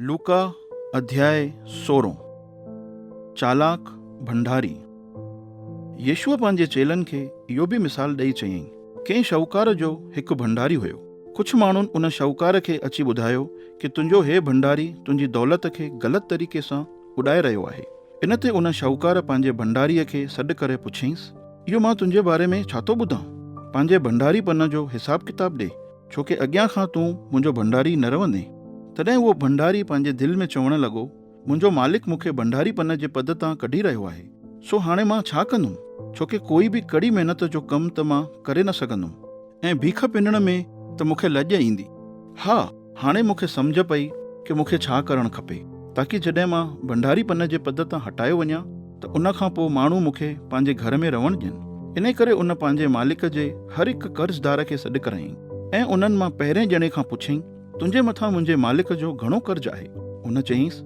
لوڪا اڌياء سورهون چالاڪ ڀنڊاري يسوع پنهنجي چيلن کي اهو به مثال ڏئي چيائين، ڪنهن شاهوڪار جو هڪ ڀنڊاري هيو. ڪجهه ماڻهن ان شاهوڪار کي اچي ٻڌايو ڪي تنهنجو هي ڀنڊاري تنهنجي دولت کي غلط طريقي سان اڏائي رهيو آهي. ان تي ان شاهوڪار پنهنجي ڀنڊاريء کي سڏ ڪري پڇيائينس، اهو مان تنهنجي باري ۾ ڇا ٿو ٻڌان؟ پنهنجي ڀنڊاري پن جو حساب ڪتاب ڏي. ڇو ڪي اڳيان کان تون منهنجو ڀنڊاري نه رهندين. تڏهن اهو ڀنڊاري پنهنجي دل ۾ چوڻ لڳو، منهنجو مالڪ مون کي ڀنڊاري پن جي پد تان ڪڍي رهيو آهي، سو هاڻي مان ڇا ڪندم؟ ڇو ڪي ڪوئي به ڪڙي محنت جو ڪم ته مان ڪري نه سگهندم ۽ ڀيک پنڻ ۾ ته مون کي لڄ ايندي. ها، هاڻي مون کي سمجهه پئي ڪي مون کي ڇا ڪرڻ کپي، تاڪي جڏهن مان ڀنڊاري پن جي پد تان هٽايو وڃان، ته ان کان پوء ماڻهو مون کي پنهنجي گهر ۾ رهڻ ڏين. انهيء ڪري ان پنهنجي مالڪ جي هر هڪ قرضدار کي سڏ ڪرايائين ۽ انهن مان پهرئين ڄڻي کان پڇيائين، تنهنجي مٿان منهنجي مالڪ جو گهڻو قرض آهي؟ ان چيائينس،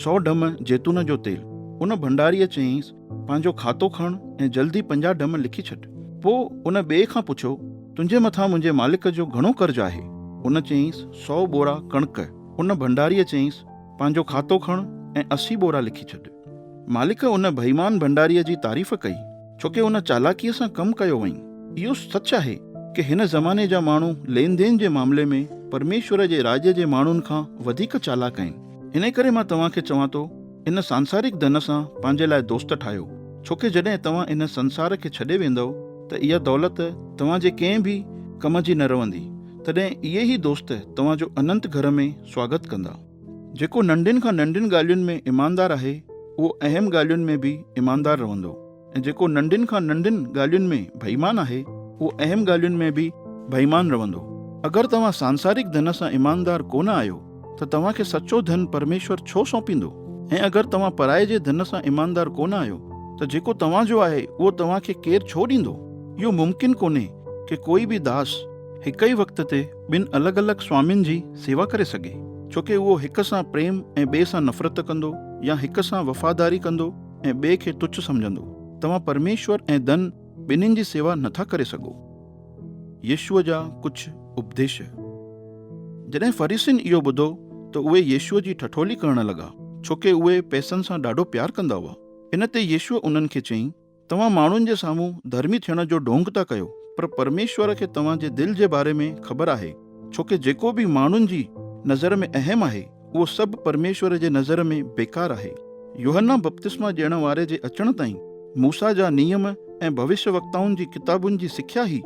سؤ ڍم زيتون جو تيل. ان ڀنڊاريء چيائينس، پنهنجو کاتو کڻ ۽ جلدي پنجاهه ڍم لکي ڇڏ. پوء ان ٻئي کان پڇيو، تنهنجي مٿان منهنجي مالڪ جو گهڻو قرض آهي؟ ان چيائينس، سؤ ٻورا ڪڻڪ. ان ڀنڊاريء چيائينس، پنهنجو کاتو کڻ ۽ اسي ٻورا لکي ڇڏ. مالڪ ان بيمان ڀنڊاريء جي تعريف ڪئي، ڇو ڪي هن چالاڪيء سان ڪم ڪيو هئائين. اهو سچ آهي ڪي هن زماني جا ماڻهو لين دين جي معاملي ۾ پرميشور جي راڄ جي ماڻهن کان وڌيڪ چالاڪ آهن. انهيء ڪري مان توهان کي چوان ٿو، ان سانسارڪ ڌن سان پنهنجي لاء دوست ٺاهيو، ڇو ڪي جڏهن توهان ان سنسار کي ڇڏي ويندؤ ته اها دولت توهان جي ڪنهن به ڪم جي نه رهندي، تڏهن اهي ئي دوست توهان جو اننت گهر ۾ سواگت ڪندا. جيڪو ننڍين کان ننڍين ڳالهين ۾ ايماندار آهي، اهو اهم ڳالهين ۾ به ايماندار رهندو ۽ جيڪو ننڍين کان ننڍين ڳالهين ۾ بيمان آهي، اهو اهم ڳالهين ۾ به بيمان رهندو. اگر توهان سانسارڪ ڌن سان ايماندار ڪو نه آهيو ته توهان کي سچو ڌن پرميشور ڇو سونپيندو؟ ۽ اگر توهان پرائي جي ڌن سان ايماندار ڪو نه آهيو ته جيڪو توهان جو آهي، اهو توهان کي ڪير ڇو ڏيندو؟ اهو ممڪن ڪونهي ڪي ڪوئي به داس هڪ ئي وقت تي ٻن الڳ الڳ سوامين جي سيوا ڪري سگهي، ڇو ڪي اهو هڪ سان پريم ۽ ٻئي سان نفرت ڪندو يا هڪ سان وفاداري ڪندو ۽ ٻئي کي تڇ سمجهندو. توهان پرميشور ۽ ڌن ٻنهين جي سيوا نه ٿا ڪري سگهو. يسوع جا ڪجهه اپديش. جڏهن فريسين اهو ٻڌو ته اهي يسوع جي ٺٺولي ڪرڻ لڳا، ڇو ڪي اهي پئسن سان ڏاڍو پيار ڪندا هئا. ان تي يسوع انهن کي چيائين، توهان ماڻهن جي سامهون ڌرمي ٿيڻ جو ڍونگ ٿا ڪيو پر پرميشور کي توهان جي دل جي باري ۾ خبر آهي ڇوڪه جيڪو به ماڻهن جي نظر ۾ اهم آهي اهو سڀ پرميشور جي نظر ۾ بيڪار آهي. يوحنا بپتسما ڏيڻ واري جي اچڻ تائين موسيٰ جا نيم ۽ ڀوشيوڪتائن جي ڪتابن جي سکيا ئي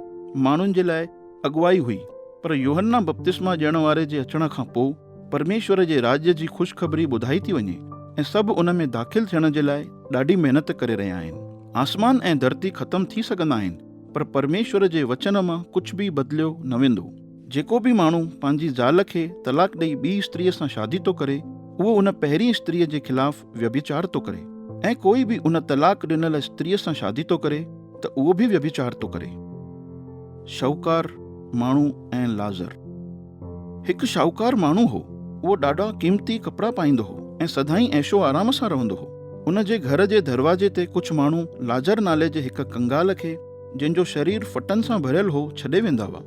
ماڻهن جي لاء اڳواهي هئي پر يوحنا بپتسما ڏيڻ واري جي اچڻ کان پوء، پرميشور جي راڄ جي خوشخبري ٻڌائي ٿي وڃي ۽ سڀ ان ۾ داخل ٿيڻ جي لاء ڏاڍي محنت ڪري رهيا آهن. آسمان ۽ ڌرتي ختم ٿي سگهندا آهن پر پرميشور جي وچن مان ڪجهه به بدليو نه ويندو. جيڪو به ماڻهو پنهنجي زال کي طلاق ڏئي ٻي استريء سان شادي ٿو ڪري اهو ان پهرين استريء جي خلاف ويڀچار ٿو ڪري ۽ ڪوئي به ان طلاق ڏنل استريء سان شادي ٿو ڪري ته اهو به ويڀچار ٿو ڪري. شاهوڪار ماڻهو ۽ لازر. هڪ شاهوڪار ماڻهو هو. اهو ڏاڍا قيمتي ڪپڙا پائيندو هو ۽ سدائين عيش و آرام سان رهندو هو. ان جي گهر جي دروازي تي ڪجهه ماڻهو لاجر نالي جي هڪ ڪنگال کي، جنهن جو شرير ڦٽن سان ڀريل هو، ڇڏي ويندا هئا.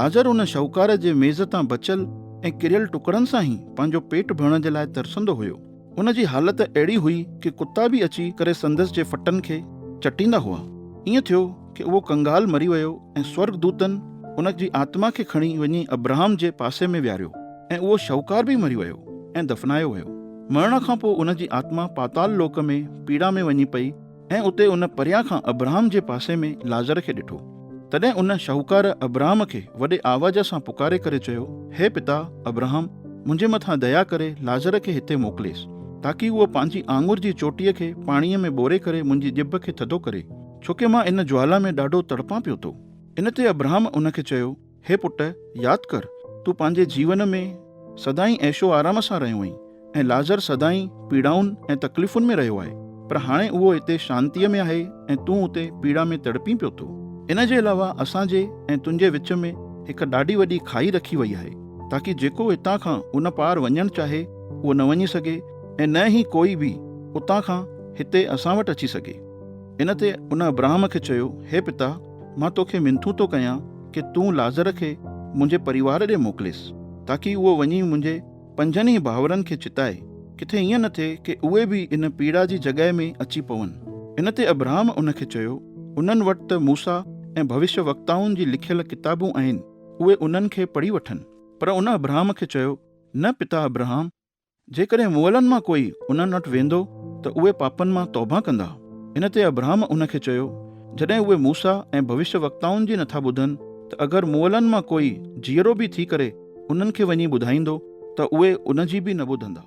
لاجر ان شاهوڪار جي ميز تان بچيل ۽ ڪريل ٽڪرن سان ئي پنهنجو پيٽ ڀرڻ جي لاء ترسندو هيو. هن جي حالت اهڙي هئي ڪي ڪتا به اچي ڪري سندس جي ڦٽن کي چٽيندا هئا. ائين ٿيو ڪي اهو ڪنگال مري ويو ۽ سورڳ دوتن ان جي آتما کي کڻي وڃي ابراهم جي پاسي ۾ ويهاريو ۽ اهو شهوڪار به مري ويو ۽ دفنايو ويو. مرڻ کان پوء ان جي آتما پاتال لوڪ ۾ پيڙا ۾ وڃي پئي. ۽ اتي ان پريان کان ابراهم جي پاسي ۾ لازر کي ڏٺو. تڏهن ان شاهوڪار ابراهم کي وڏي آواز سان پڪاري ڪري چيو، هي پتا، ابراهم، منهنجي مٿان ديا ڪري لازر کي هتي موڪليس، تاڪي هو پنهنجي آڱر جي چوٽيء کي پاڻيء ۾ ٻوري ڪري منهنجي ڄڀ کي ٿڌو ڪري، ڇو ڪي مان ان جوالا ۾ ڏاڍو تڙپان پيو ٿو. ان تي ابراهم ان کي چيو. هي پٽ! ياد ڪر، تون پنهنجي جيون ۾ سدائين عيش و آرام سان رهيو آهين ۽ لازر سدائين پيڙائن ۽ تڪليفن ۾ رهيو آهي، پر هاڻي اهو هتي شانتيء ۾ آهي ۽ تون اتي پيڙا ۾ تڙپين پيو ٿو. ان جي علاوه اسان جي ۽ تنهنجي وچ ۾ هڪ ڏاڍي وڏي کاهي رکي وئي آهي، تاڪي جيڪو هتان کان ان پار وڃڻ چاهي، اهو نه وڃي سگهي ۽ نه ئي ڪوئي به اتان کان هتي اسان وٽ اچي سگهي. ان تي ان ابراهم کي چيو، هي پتا! مان توکي منٿون ٿو ڪيان ڪي تون لازر کي منهنجي پريوار ڏي موڪليس تاڪي اهو وڃي منهنجي پنجن ئي ڀائورن کي چتائي، ڪٿي ائين نه ٿئي ڪي اهي به ان پيڙا جي جڳهه ۾ اچي پون. ان تي ابرهام ان کي چيو، انهن وٽ ته موسيٰ ۽ ڀوشيه وڪتائن جي لکيل ڪتابون آهن، اهي انهن کي پڙهي وٺن. پر ان ابرهام کي چيو، نه پتا ابرهام، جيڪڏهن مئلن مان ڪوئي انهن وٽ ويندو ته اهي پاپن مان توبهه ڪندا. ان تي ابرهام ان کي چيو، جڏهن اهي موسيٰ ۽ ڀوشيٰ وقتائن جي نٿا ٻڌن ته اگر مئلن مان ڪوئي جيئرو به ٿي ڪري انهن کي وڃي ٻڌائيندو ته اهي ان جي به نه ٻڌندا.